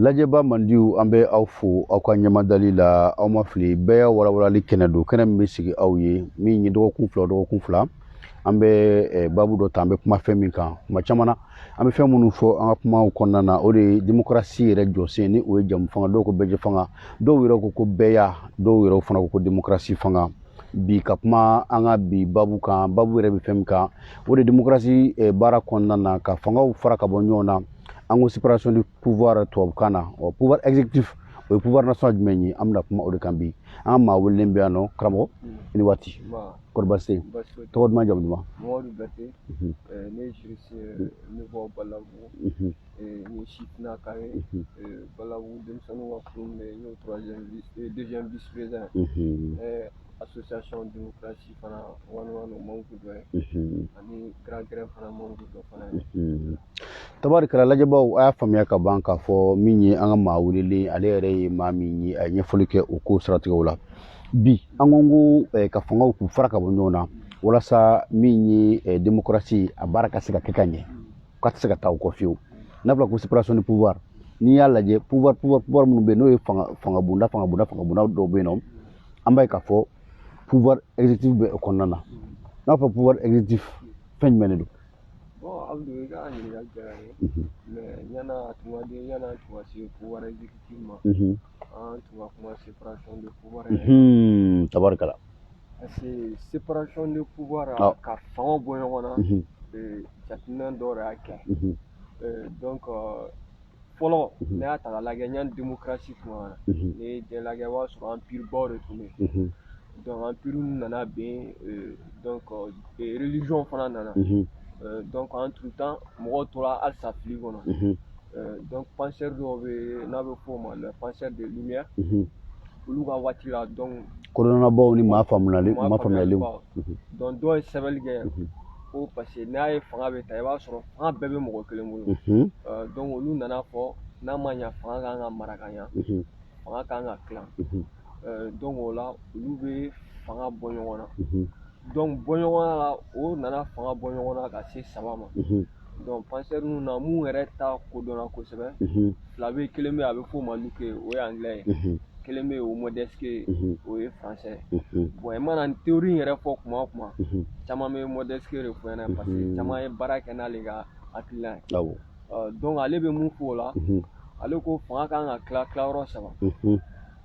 lajɛba mandiw an bɛ aw fo aw ka ɲɛmadali la aw ma fili bɛɛya walawalali kɛnɛ don kɛnɛ min bɛ sigi aw ye min ye dɔgɔkun fila dɔgɔkun fila an bɛ eh, babu dɔ ta an bɛ kuma fɛn min kan kuma caman na an bɛ fɛn minnu fɔ an ka kumaw kɔnɔna na o de ye demokarasi yɛrɛ jɔsen ni o ye jɛmufanga dɔw ko bɛɛjɛ fanga dɔw yɛrɛ ko ko bɛɛya dɔw yɛrɛ fana ko ko demokarasi fanga bi ka kuma an ka bi babu kan babu yɛrɛ bɛ fɛn min kan o de demokarasi eh, baara kɔnɔna na ka fangaw fara ka bɔ ɲɔgɔn na an ko séparation du pouvoir tubabukan na ɔ pouvoir exécutif o ye pouvoir nasɔn jumɛn ye an bɛna kuma o de kan bi an ka maa welelen bɛ yan nɔ karamɔgɔ mm. i ni waati kɔri baasi tɛ yen tɔgɔ duman jamu duman Mamadu Bɛte ne ye juriste ne bɔ Balabu ni sifinnaka ye Balabu denmisɛnninw ka kulu bɛ yen n y'o troisième vice deuxième vice président association démocratie fana wani wani membre dɔ ye ani grand grin fana membre dɔ fana ye tabarikala lajɛbaw a y'a faamuya ka ban k'a fɔ min ye an ka maa welelen ale yɛrɛ ye maa min ye a ye ɲɛfɔli kɛ o ko siratigɛw la bi an ko ko eh, ka fangaw k'u fara ka bɔ ɲɔgɔn na walasa min ye eh, demokarasi a baara ka se ka kɛ ka ɲɛ k'a tɛ se ka taa o kɔ fiyewu n'a fɔra ko séparation de pouvoir n'i y'a lajɛ pouvoir pouvoir pouvoir minnu bɛ yen n'o ye fanga fanga bonda fanga bonda fanga bonda dɔw bɛ yen nɔ an b'a ye k'a fɔ pouvoir exécutif bɛ o kɔnɔna na n'a fɔ pouvoir exécutif fɛn jumɛn de don Abdou i ka ɲininkali diyara n ye mais yan'a tun ka di yan'a tun ka se pouvoir exécutif ma an tun ka kuma séparation de pouvoir tabarikala Parce que séparation de pouvoir a ah. ka fanga bɔ ɲɔgɔn na mhm. euh, jateminɛ dɔw de y'a kɛ mhm. euh, donc euh, fɔlɔ mhm. ne y'a ta k'a lajɛ yanni démocratie tuma na n'i ye diɲɛ lajɛ i b'a sɔrɔ empire baw de tun bɛ yen donc empire nana ben donc religion fana nana donc en tout temps mɔgɔw tora halisa fili kɔnɔ donc penseur dɔw bɛ n'a bɛ f'o ma les penseurs de lumière olu ka waati la donc kodɔnnabaw ni maa faamuyali maa faamuyalenw donc dɔw ye sɛbɛnni kɛ ko parce que n'a ye fanga bɛ ta i b'a sɔrɔ fanga bɛɛ bɛ mɔgɔ kelen bolo donc olu nana a fɔ n'a ma ɲa fanga kan ka mara ka ɲa fanga kan ka tila donc o la olu bɛ fanga bɔ ɲɔgɔn na donc bɔɲɔgɔnna la o nana fanga bɔ ɲɔgɔn na ka se saba ma donc penseurs ninnu na mun yɛrɛ ta kodɔnna kosɛbɛ fila bɛ kelen bɛ a bɛ f'o ma Locke o ye anglais ye kelen bɛ o Montesquieu o ye français bon i mana théorie in yɛrɛ fɔ kuma o kuma caman bɛ Montesquieu de fɔ ɲɛna parce que caman ye baara kɛ n'ale ka hakilina ye donc ale bɛ mun fɔ o la ale ko fanga kan ka tila tilayɔrɔ saba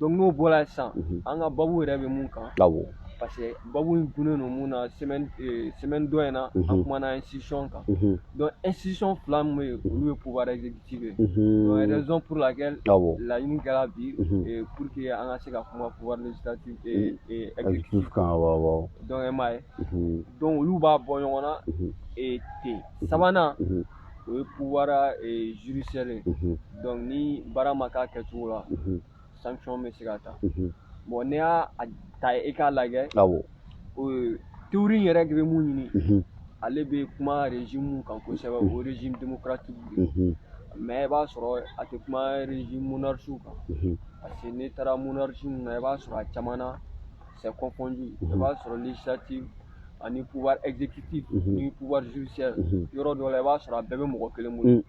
donc n'o bɔra yen sisan mhm. an ka babu yɛrɛ bɛ mun kan awɔ parce que babu in gunnen don mun na semaine eh, semaine dɔ in na mhm. an kumana institution kan mhm. donc institution fila min bɛ yen olu ye pouvoir exécutif ye donc raison pour laquelle awɔ laɲini kɛra bi eh, pour que an ka se ka kuma pouvoir législatif eh, exécutif kan awɔ awɔ donc e m'a ye donc olu b'a bɔ ɲɔgɔn na ten sabanan o ye pouvoir euh, judiciaire ye mhm. donc ni baara ma k'a kɛcogo la mhm. sanction bɛ se ka ta mhm. bon n'i y'a ta i k'a lajɛ awɔ théorie yɛrɛ de bɛ mun ɲini ale bɛ kuma régime min kan kosɛbɛ o régime démocratique de ye mais i b'a sɔrɔ a tɛ kuma régime monarchique kan parce que n'i taara monarchie ninnu na i b'a sɔrɔ a caman na c'est confondu i b'a sɔrɔ législative ani pouvoir exécutif ni pouvoir judiciaire yɔrɔ dɔ la i b'a sɔrɔ a bɛɛ bɛ mɔgɔ kelen bolo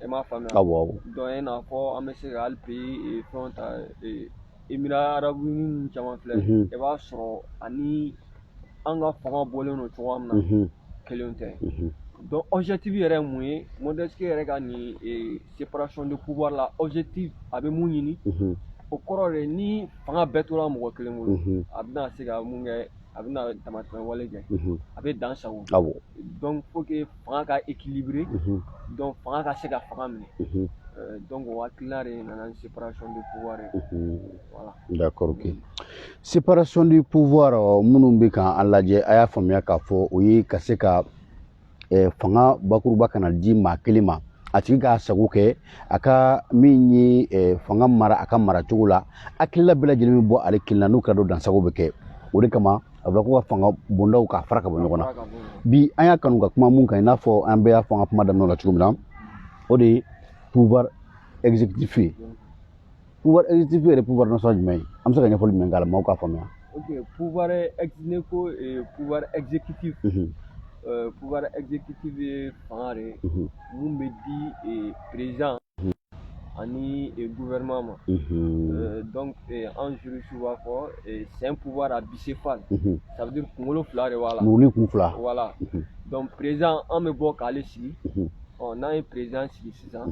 i m'a faamuya awɔ awɔ donc i n'a fɔ an bɛ se ka hali pays fɛnw ta eh, Émirats arabes unis ninnu caman filɛ i b'a sɔrɔ ani an ka fanga bɔlen don cogoya min na kelen tɛ donc objectif yɛrɛ ye mun ye Montesquieu yɛrɛ ka nin séparation de pouvoir la objectif a bɛ mun ɲini o kɔrɔ de ni fanga bɛɛ tora mɔgɔ kelen bolo a bɛna se ka mun kɛ a bɛna damatɛmɛ wale kɛ a bɛ dan sago donc faut que fanga ka équilibrer donc fanga ka se ka fanga minɛ donc o hakilina de nana ni séparation de pouvoir ye voilà d'accord ok séparation du pouvoir minnu bɛ k'an lajɛ a y'a faamuya k'a fɔ o ye ka se ka eh, fanga bakuruba kana di maa kelen ma a tigi k'a sago kɛ a ka min ye eh, fanga mara a ka mara cogo la hakilila bɛɛ lajɛlen bɛ bɔ ale kelen na n'o kɛra dun dansago bɛ kɛ o de kama a bɛ ko ka fanga bondaw k'a fara ka bɔ ɲɔgɔn na bi an y'a kanu ka kuma mun kan i n'a fɔ an bɛɛ y'a fɔ an ka kuma daminɛ la cogo min na o de ye pouvoir exécutif ye pouvoir exécutif yɛrɛ pouvoir nasɔn jumɛn ye an bɛ se ka ɲɛfɔli jumɛn k'a la maaw k'a faamuya ok pouvoir n'i ko pouvoir exécutif pouvoir exécutif ye fanga de ye mun bɛ di président ani gouvernement ma donc an juristew b'a fɔ c'est un pouvoir à bicéphale ça veut dire kunkolo fila de b'a la muru ni kun fila voilà donc président an bɛ bɔ k'ale sigi ɔ n'an ye président sigi sisan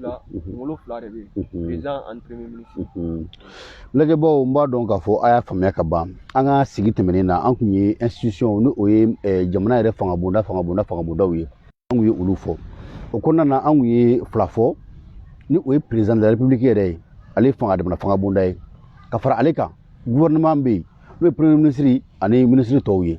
la kunkolo fila de bɛ yen président ani premier ministre lajɛbaaw n b'a dɔn k'a fɔ a y'a faamuya ka ban an ka sigi tɛmɛnen na an kun ye institution ni o ye jamana yɛrɛ fanga bonda fanga bonda fanga bondaw ye an kun ye olu fɔ o kɔnɔna na an kun ye fila fɔ ni o ye président de la république yɛrɛ ye ale fanga jamana fanga bonda ye ka fara ale kan gouvernement bɛ yen n'o ye premier ministre ani ministre tɔw ye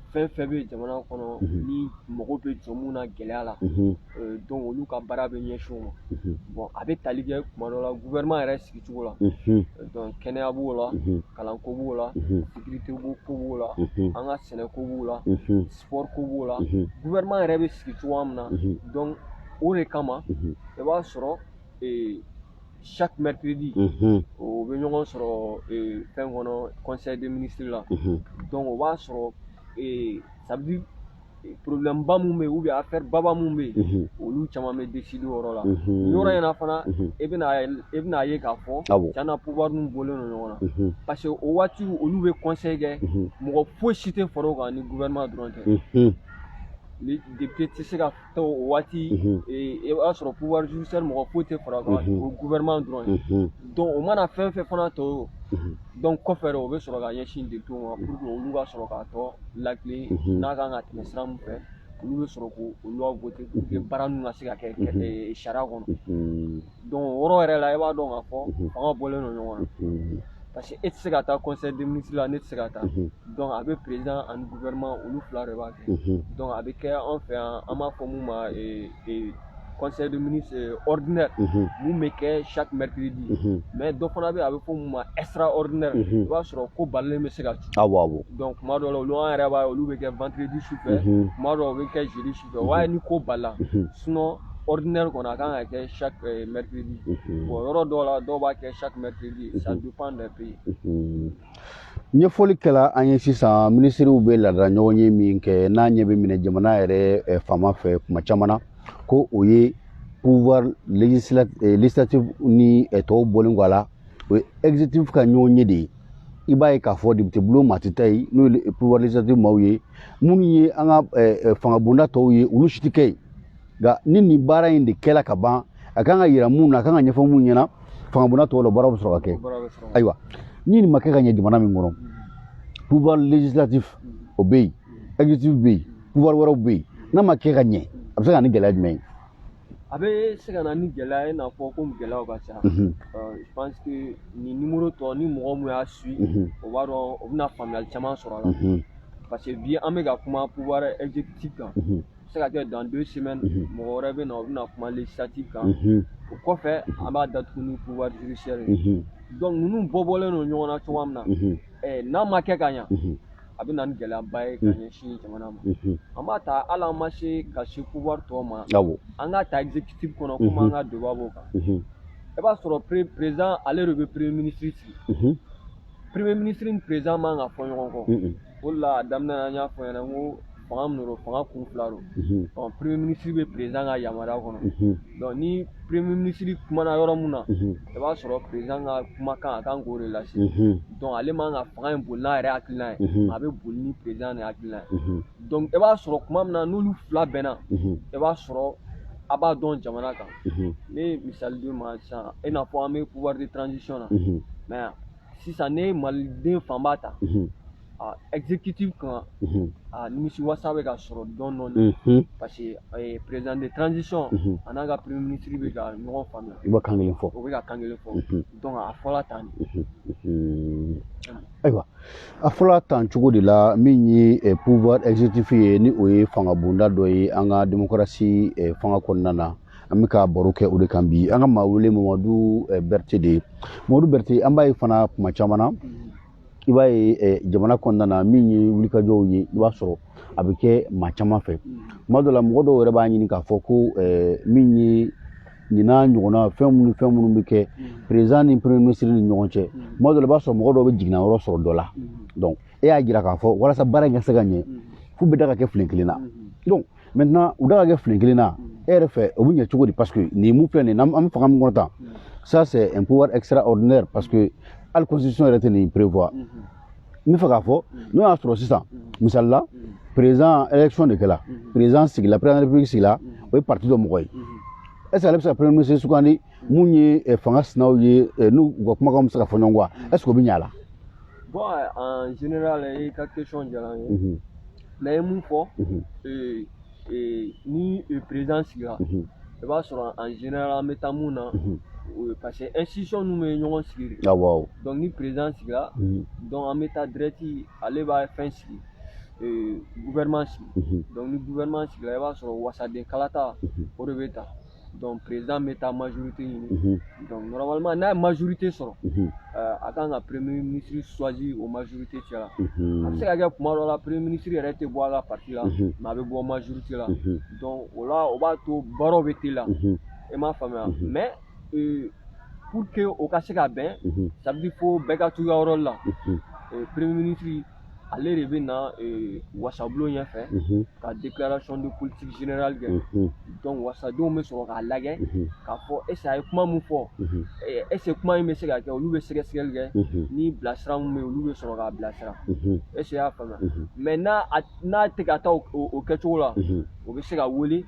fɛn fɛn bɛ jamana kɔnɔ ni mɔgɔ bɛ jɔ mun na gɛlɛya la donc olu ka baara bɛ ɲɛsin o ma bon a bɛ tali kɛ kuma dɔ la gouvernement yɛrɛ sigicogo la donc kɛnɛya b'o la kalanko b'o la sécurité ko b'o la an ka sɛnɛko b'o la sport ko b'o la gouvernement yɛrɛ bɛ sigi cogoya min na donc o de kama i b'a sɔrɔ chaque mercredi u bɛ ɲɔgɔn sɔrɔ fɛn kɔnɔ conseil des ministres la donc o b'a sɔrɔ ça veut dire problème ba mun bɛ yen ou bien affaire baba mun bɛ yen olu caman bɛ décider o yɔrɔ la nin yɔrɔ in na fana e bɛna e bɛna ye k'a fɔ tiɲɛ na pouvoir ninnu bɔlen don ɲɔgɔn na parce que o waati olu bɛ conseil kɛ mɔgɔ foyi si tɛ fara o kan ni gouvernement dɔrɔn tɛ les députés tɛ se ka taa o waati i b'a sɔrɔ pouvoir judiciaire mɔgɔ foyi tɛ fara o kan o gouvernement dɔrɔn don o mana fɛn fɛn fana to donc kɔfɛ o bɛ sɔrɔ ka ɲɛsin députés ma pour que olu ka sɔrɔ k'a tɔ lakilen n'a kan ka tɛmɛ sira min fɛ olu bɛ sɔrɔ k'olu voter pour que baara ninnu ka se ka kɛ sariya kɔnɔ donc o yɔrɔ yɛrɛ la i b'a dɔn k'a fɔ fanga bɔlen don ɲɔgɔn na parce que e tɛ se ka taa conseil des ministres la ne tɛ se ka taa donc a bɛ président ani gouvernement olu fila de b'a kɛ donc a bɛ kɛ an fɛ yan an b'a fɔ mun ma conseil des ministres ordinaire mun bɛ kɛ chaque mercredi mais dɔ fana bɛ yen a bɛ fɔ mun ma extraordinaire i b'a sɔrɔ ko balilen bɛ se ka ci awɔ awɔ donc kuma dɔw la olu an yɛrɛ b'a ye olu bɛ kɛ vendredi su fɛ kuma dɔw bɛ kɛ jeudi su o b'a ye ni ko balila sinon ordinaire kɔni a kan ka kɛ chaque euh, mercredi bon yɔrɔ dɔw la dɔw b'a kɛ chaque mercredi ça dépend des pays ɲɛfɔli kɛla an ye sisan minisiriw bɛ laadala ɲɔgɔn ye min kɛ n'a ɲɛ bɛ minɛ jamana yɛrɛ eh, faama fɛ kuma caman na ko o ye pouvoir eh, législatif ni eh, tɔw bɔlen kɔ a la o ye exécutif ka ɲɔgɔn ye de ye i b'a ye k'a fɔ depitebulon maa tɛ taa yen n'o ye pouvoir législatif maaw ye minnu ye an ka fangabonda tɔw ye olu si tɛ kɛ yen nka ni nin baara in de kɛla ka ban a kan ka yira mun na a kan ka ɲɛfɔ mun ɲɛna fangabonda tɔw la baara bɛ sɔrɔ ka kɛ ayiwa ni nin ma kɛ ka ɲɛ jamana min kɔnɔ pouvoir législatif o bɛ yen exécutif bɛ yen pouvoir wɛrɛw bɛ yen n'a ma kɛ ka ɲɛ a bɛ se ka na ni gɛlɛya jumɛn ye a bɛ se ka na ni gɛlɛya ye i n'a fɔ komi gɛlɛyaw ka ca je pense que nin numéro tɔ ni mɔgɔ min y'a suivre o b'a dɔn o bɛna faamuyali caman sɔrɔ a la parce que bi an bɛ ka kuma pouvoir exécutif kan se ka kɛ dans deux semaines mɔgɔ wɛrɛ bɛ na o bɛna kuma législatif kan o kɔfɛ an b'a datugu ni pouvoir judiciaire ye donc ninnu bɔ bɔlen don ɲɔgɔn na cogoya min na n'a ma kɛ ka ɲa a bɛ na ni gɛlɛyaba ye ka mm. ɲɛsin jamana ma mm-hmm. an b'a ta hali an ma se ka se pouvoir tɔw ma an k'a ta exécutif kɔnɔ komi mm-hmm. an ka débat b'o kan mm-hmm. i b'a sɔrɔ président ale de bɛ premier ministre sigi premier ministre ni président man ka fɔ ɲɔgɔn kɔ o de la a daminɛ na n y'a fɔ ɲɛna n ko fanga min don fanga kun fila don ɔ premier ministre bɛ président ka yamaruya kɔnɔ donc ni premier ministre kumana yɔrɔ min na i b'a sɔrɔ président ka kumakan a kan k'o de lase donc ale man ka fanga in boli n'a yɛrɛ hakilina ye a bɛ boli ni président de hakilina ye donc i b'a sɔrɔ kuma min na n'olu fila bɛnna i b'a sɔrɔ a b'a dɔn jamana kan ne ye misali di ma sisan i n'a fɔ an bɛ pouvoir de transition na mais sisan n'e ye maliden fanba ta exécutif kan a nimisiwasa bɛ ka sɔrɔ dɔɔnin parce que président de transition a n'a ka premier ministre bɛ ka ɲɔgɔn faamuya i bɛ kan kelen fɔ o bɛ ka kan kelen fɔ donc a fɔra tan ayiwa a fɔra tan cogo de la min ye pouvoir exécutif ye ni o ye fanga bonda dɔ ye an ka démocratie fanga kɔnɔna na an bɛ ka baro kɛ o de kan bi an ka maa wele mamadu berete de ye mamadu berete an b'a ye fana kuma caman na i b'a ye eh, jamana kɔnɔna na min ye wulikajɔw ye i b'a sɔrɔ a bɛ kɛ maa caman fɛ tuma dɔ la mɔgɔ dɔw yɛrɛ b'a ɲini k'a fɔ ko eh, min ye ɲinan ɲɔgɔnna fɛn minnu fɛn minnu bɛ kɛ président ni premier ministre ni ɲɔgɔn cɛ tuma dɔ la i b'a sɔrɔ mɔgɔ dɔw bɛ jiginna yɔrɔ sɔrɔ dɔ la donc e y'a jira k'a fɔ walasa baara in ka se ka ɲɛ f'u bɛɛ da ka kɛ filen kelen na donc maintenant u da ka kɛ filen kelen na e yɛrɛ fɛ o bɛ ɲɛ cogo di parce que nin mun filɛ nin ye an bɛ fanga min kɔnɔ tan ça c'est un pouvoir extraordinaire parce que hali constitution yɛrɛ tɛ nin prévoir n bɛ fɛ k'a fɔ n'o y'a sɔrɔ sisan misali la président élection de kɛra président sigila président de la république sigila o ye parti dɔ mɔgɔ ye est ce que ale bɛ se ka premier ministre sugandi mun ye eh, fanga sinaw ye eh, n'u u ka kumakanw bɛ se ka fɔ ɲɔgɔn kɔ est ce que o bɛ ɲɛ a la bon en général i ka question diyara n ye mais i ye mun fɔ ni président sigira i b'a sɔrɔ en général an bɛ taa mun na parce que institution ninnu bɛ ɲɔgɔn sigi de awɔ donc ni président sigira donc an bɛ taa direct ale b'a fɛn sigi gouvernement sigi donc ni gouvernement sigira i b'a sɔrɔ wasaden kalata o de bɛ ta donc président bɛ taa majorité ɲini mhm. donc normalement n'a ye majorité sɔrɔ mhm. euh, a kan ka premier ministre choisir o majorité cɛ la mhm. a bɛ se ka kɛ tuma dɔ la premier ministre yɛrɛ tɛ bɔ a ka parti la mais a bɛ bɔ majorité la donc o la o b'a to baaraw bɛ teliya e m'a faamuya mais euh, pour que o ka se ka bɛn ça veut dire fo bɛɛ ka t'u ka yɔrɔ la premier ministre ale de bɛ na eh, wasabulon ɲɛfɛ mhm. ka déclaration de politique générale kɛ mhm. donc wasadenw bɛ sɔrɔ k'a lajɛ mhm. k'a fɔ est a ye kuma min fɔ eh, est ce que kuma in bɛ se ka kɛ olu bɛ sɛgɛsɛgɛli kɛ ni bilasira min bɛ yen olu bɛ sɔrɔ k'a bilasira est ce que i y'a faamuya mais n'a n'a tɛ ka taa o kɛcogo la o bɛ se ka wele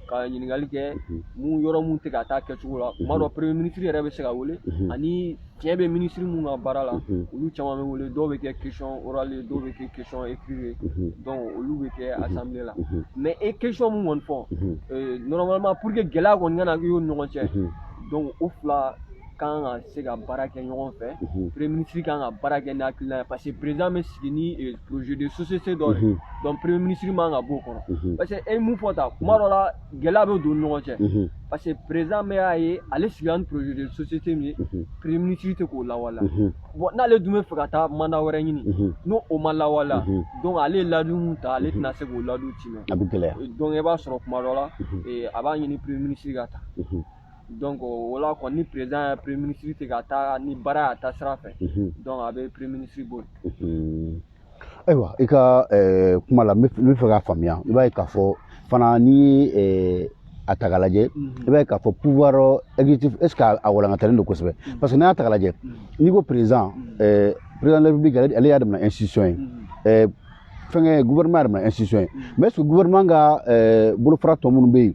ka ɲininkali kɛ mun yɔrɔ min tɛ ka taa kɛcogo la kuma dɔ premier ministre yɛrɛ bɛ se ka wele ani tiɲɛ bɛ ministre minnu ka baara la mhm. olu caman bɛ wele dɔw bɛ kɛ question orale ye dɔw bɛ kɛ question écrite ye mhm. donc olu bɛ kɛ mhm. assemblée la mais e question min kɔni fɔ euh, normalement pour que gɛlɛya kɔni kana kɛ o ni ɲɔgɔn cɛ donc o fila kan ka se ka baara kɛ ɲɔgɔn fɛ premier ministre kan ka baara kɛ n'a hakilina ye parce que président bɛ sigi ni euh, projet de société dɔ de donc premier ministre man ka b'o kɔnɔ parce que e ye mun fɔ tan kuma dɔ la gɛlɛya bɛ don ɲɔgɔn cɛ parce que président b'a ye ale sigira ni projet de société min ye premier ministre tɛ k'o lawaleya bon n'ale dun bɛ fɛ ka taa mandat wɛrɛ ɲini ni o ma lawaleya donc ale ye layidu min ta ale tɛna se k'o layidu tiimɛ a bɛ gɛlɛya donc i b'a sɔrɔ kuma dɔ la a b'a ɲini premier ministre ka taa donc o la kɔni ni président ye premier ministre tɛ ka taa ni baara y'a taasira fɛ donc a bɛ premier ministre bɔ yen ayiwa i ka eh, kuma la n bɛ fɛ k'a faamuya i b'a ye k'a fɔ fana n'i ye a ta k'a lajɛ mhm. i b'a ye k'a fɔ pouvoir exécutif est ce que a walankatalen don kosɛbɛ mhm. parce que n'i y'a ta k'a lajɛ mhm. n'i ko président eh, président de la république ale y'a damana institution ye fɛnkɛ gouvernement y'a damana institution ye mais est ce que gouvernement ka bolofara tɔ minnu bɛ yen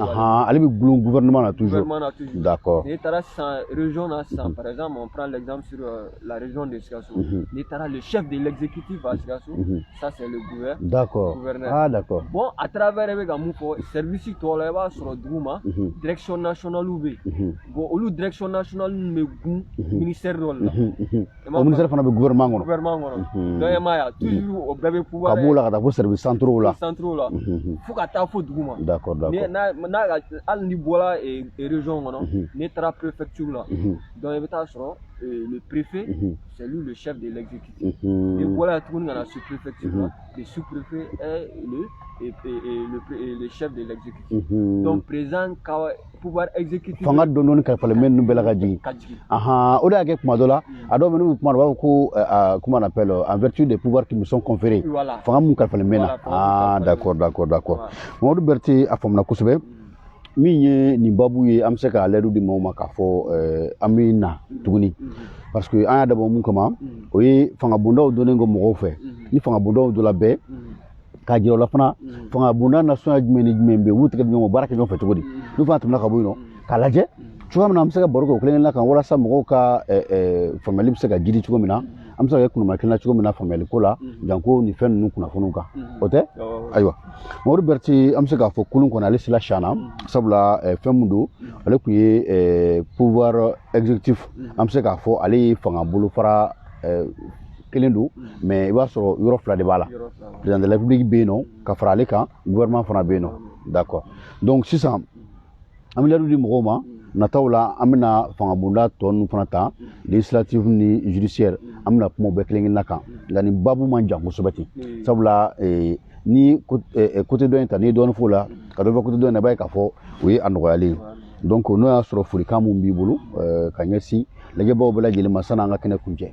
Ahan, ale bɛ dulon gouvernement na toujours, gouvernement na toujours, d'accord, n'i taara sisan région na sisan par exemple on prend l'exemple sur la région de Sikasso, unhun, n'i taara le chef de l'exécutif à Sikasso, unhun, ça c'est le gouverneur, d'accord, gouverneur, ah d'accord, bon à travers e bɛ ka mun fɔ service tɔw la i b'a sɔrɔ dugu ma, unhun, direction nationale bɛ yen, unhun, bon olu direction nationale bɛ dulon, unhun, ministère dɔ de la, unhun, unhun. o ministère fana bɛ gouvernement kɔnɔ gouvernement kɔnɔ donc e m'a ye a toujours o bɛɛ bɛ pouvoir ka b'o la ka taa fo service centraux la centraux la fo ka taa fo dugu ma d'accord d'accord n'a n'a hali n'i bɔra région kɔnɔ n'i taara préfecture la donc i bɛ taa sɔrɔ le préfet c'est lui le chef de l'exécutif n'i bɔra yen tuguni ka na sous préfecture la le sous préfet est le et, et, et, le, et le chef de l'exécutif. Mm -hmm. Donc, président, pouvoir exécutif fanga dɔɔnin dɔɔnin kalifalen bɛ ninnu bɛɛ la ka jigin ahan o de y'a kɛ kuma dɔ la a dɔw bɛ n'u kumana u b'a fɔ ko comment on appelle en vertu des pouvoirs qui me sont conférés fanga mun kalifalen bɛ n na ah d'accord d'accord d'accord Mamadu Berete a faamuna kosɛbɛ min ye nin babu ye an bɛ se ka layidu di maaw ma k'a fɔ an bɛ na tuguni parce que an y'a dabɔ mun kama o ye fangabondaw dɔnni ko mɔgɔw fɛ ni fangabondaw dɔnna bɛɛ k'a jira o la fana mm. fanga bonda nasɔnya jumɛn ni jumɛn bɛ yen u b'u tɛgɛ di ɲɔgɔn baara kɛ ɲɔgɔn fɛ cogo di mm. n'u fana tɛmɛna ka bɔ yen nɔ mm. k'a lajɛ cogoya min na an bɛ se ka baro kɛ o kelen-kelenna kan walasa mɔgɔw ka faamuyali bɛ se ka jiidi cogo min na an bɛ se ka kɛ kunuma kelen na cogo min na faamuyali ko la janko nin fɛn ninnu kunnafoniw kan o tɛ ayiwa mamadu berete an bɛ se k'a fɔ kolon kɔnɔ ale sila siyana sabula fɛn min don ale tun ye pouvoir exécutif an bɛ se k'a fɔ ale ye fanga bolofara euh, kelen don mais i b'a sɔrɔ yɔrɔ fila de b'a la président de la république bɛ yen nɔ ka fara ale kan gouvernement fana bɛ yen nɔ d'accord donc sisan an bɛ layidu di mɔgɔw ma nataw la an bɛna fangabonda tɔ ninnu fana ta législative ni judiciaire an bɛna kuma bɛɛ kelen kelenna kan nka nin babu man jan kosɛbɛ ten sabula eh, ni côté eh, eh, dɔ in ta n'i ye dɔɔnin f'o la ka dɔ bɛ côté dɔ in na i b'a ye k'a fɔ o ye a nɔgɔyalen ye donc n'o y'a sɔrɔ folikan mun b'i bolo euh, ka ɲɛsin lajɛbaaw bɛɛ lajɛlen ma san'an ka kɛnɛ kuncɛ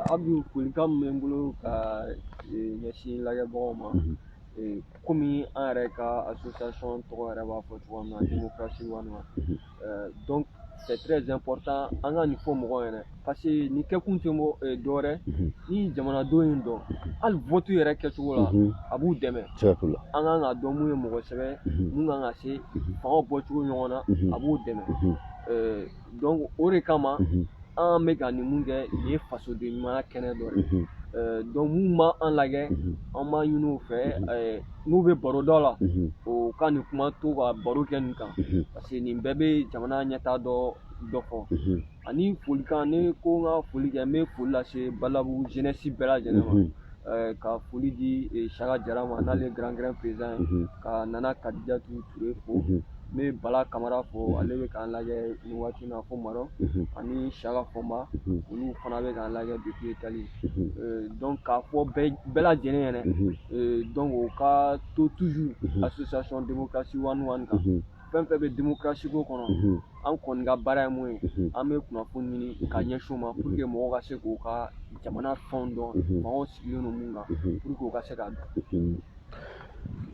abdu folikan min bɛ n bolo ka euh, ɲɛsin lajɛbagaw ma mhm. euh, komi an yɛrɛ ka association tɔgɔ yɛrɛ b'a fɔ cogoya min na mhm. démocratie one one mhm. donc c'est très important an ka nin fɔ mɔgɔw ɲɛna parce que nin kɛkun tɛ mɔ eh, dɔwɛrɛ mhm. ni jamanadenw ye nin dɔn mhm. hali votu yɛrɛ kɛcogo la mhm. a b'u dɛmɛ an kan ka dɔn mun ye mɔgɔ se bɛ mun kan ka se fangaw bɔcogo ɲɔgɔn na a b'u dɛmɛ eh, donc o de kama an bɛ ka nin mun kɛ nin ye fasoden ɲumanya kɛnɛ dɔ ye eh, donc min b'an lajɛ an b'a ɲini u fɛ n'u bɛ baro dɔ la o ka nin kuma to ka baro kɛ nin kan parce que nin bɛɛ bɛ jamana ɲɛtaa dɔ dɔ fɔ ani folikan ne ko n ka foli kɛ n bɛ foli lase balabugu jeunesse bɛɛ lajɛlen ma eh, ka foli di eh, saka jara ma n'ale ye grand grand président ye ka nana kadijatu ture fo n bɛ bala kamara fo ale bɛ k'an lajɛ nin waati na fo maroc ani saka fɔnba olu fana bɛ k'an lajɛ depuis italie eh, donc k'a fɔ bɛɛ lajɛlen ɲɛna donc o ka to toujours association démocratie one one kan fɛn fɛn bɛ demokarasi ko kɔnɔ an kɔni ka baara ye mun ye an bɛ kunnafoni ɲini ka ɲɛsin u ma pour que mɔgɔw ka se k'u ka jamana fɛnw dɔn mɔgɔw sigilen don mun kan pour que u ka se k'a dɔn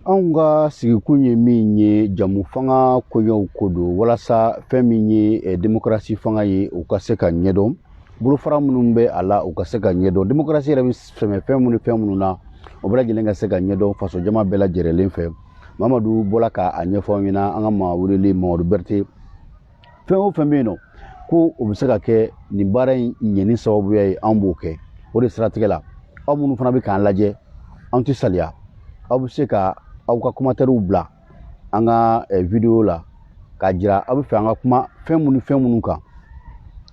anw ka sigikun ye min ye jɛmufanga koɲɛw ko don walasa fɛn min ye demokarasi fanga ye u ka se ka ɲɛdɔn bolofara minnu bɛ a la u ka se ka ɲɛdɔn demokarasi yɛrɛ bɛ sɛmɛ fɛn minnu ni fɛn minnu na o bɛɛ lajɛlen ka se ka ɲɛdɔn faso jama bɛɛ lajɛlen fɛ mamadu bɔra ka a ɲɛfɔ an ɲɛna an ka maa welelen mamadu berete fɛn o fɛn bɛ yen nɔ ko o bɛ se ka kɛ nin baara in ɲɛni sababuya ye an b'o kɛ o de siratigɛ la aw minnu fana bɛ k'an lajɛ an tɛ saliya aw bɛ se ka aw ka commentaires bila an ka eh, vidéo la k'a jira aw bɛ fɛ an ka kuma fɛn minnu fɛn minnu kan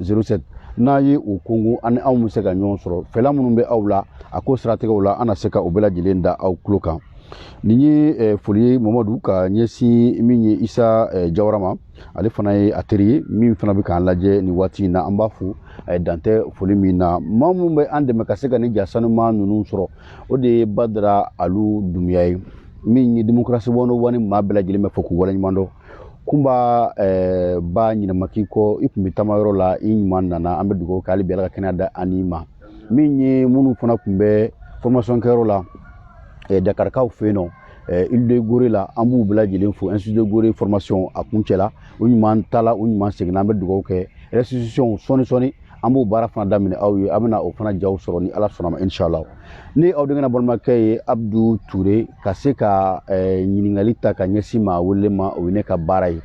07 n'a ye o kongo ani anw bɛ se ka ɲɔgɔn sɔrɔ fɛla minnu bɛ aw la a ko siratigɛw la an na se ka o bɛɛ lajɛlen da aw tulo kan nin ye eh, foli ye mamadu ka ɲɛsin min ye isa eh, jawara ma ale fana ye a teri ye min fana bɛ k'an lajɛ nin waati in na an b'a fo a ye dantɛ foli min na maa minnu bɛ an dɛmɛ ka se ka nin ja sanuma ninnu sɔrɔ o de ye badara alu dumuya ye min ye demokarasi one o one maa bɛɛ lajɛlen bɛ fo k'u waleɲuman dɔn kunba eh, ba ɲina ma k'i kɔ i tun bɛ taama yɔrɔ la i ɲuman nana an bɛ dugawu kɛ hali bi ala ka kɛnɛya d'an n'i ma min ye minnu fana tun bɛ formation kɛyɔrɔ la eh, dakarikaw fɛ yen nɔ eh, île de gorée la an b'u bɛɛ lajɛlen fo institut de gorée formation a kuncɛla u ɲuman taala u ɲuman seginna an bɛ dugawu kɛ restitution sɔɔni sɔɔni an b'o baara fana daminɛ aw ye a bɛna o fana jaw sɔrɔ ni ala sɔnna ma inshala ne aw denkɛ balimakɛ ye abdu ture ka se ka eh, ɲininkali ta ka ɲɛsin maa wele ma o ye ne ka baara ye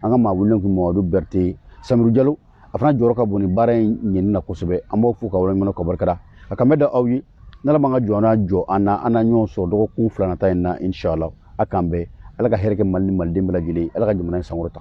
an ka maa wele tun mamadu bɛrite samiru jalo a fana jɔyɔrɔ ka bon nin baara in ɲɛni na kosɛbɛ an b'aw fo ka waleɲuman dɔn ka barikada a kan bɛ da aw ye n'ala m'an ka jɔ n'a jɔ an na an na ɲɔgɔn sɔrɔ dɔgɔkun fila nata in na inshala a k'an bɛn ala ka hɛrɛ kɛ mali ni maliden bɛɛ lajɛlen ala ka jamana in sankɔrɔta